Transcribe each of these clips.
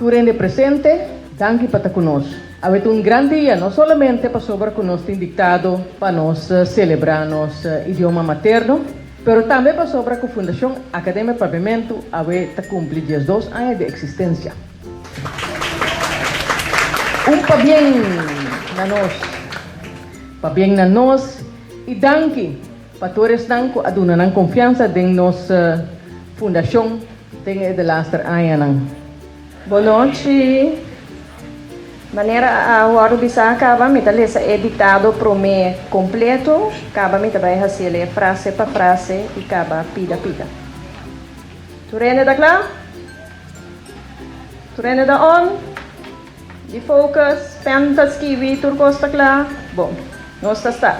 Tur hende presente, danki pa ta ku nos. Awe ta un gran dia, no solamente pasobra ku nos tin diktado pa nos selebrá nos idioma materno, Pero tambe pasobra ku Fundashon Akademia Pabiamentu awe ta kumpli diesdos aña di eksistensia. Un pabien na nos! Pabien na nos i danki pa tur esnan ku a duna nan konfiansa den nos Fundashon den e de laster añanan. Bonochi. Manera a wordo bisa caba mi ta lesa e dictado prome completo, caba mi ta bay haciel e frase pa frase y caba pida pida. Tur hende ta cla? Tur hende ta on? Di focus, pen ta skibi, tur cos ta cla? Bon, nos ta sta.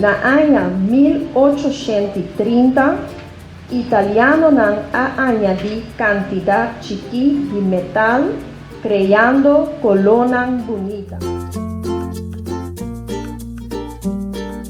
Na aña mil ochoshent i trinta, italianonan a añadí kantidat chikí di metal kreando kolonan bunita.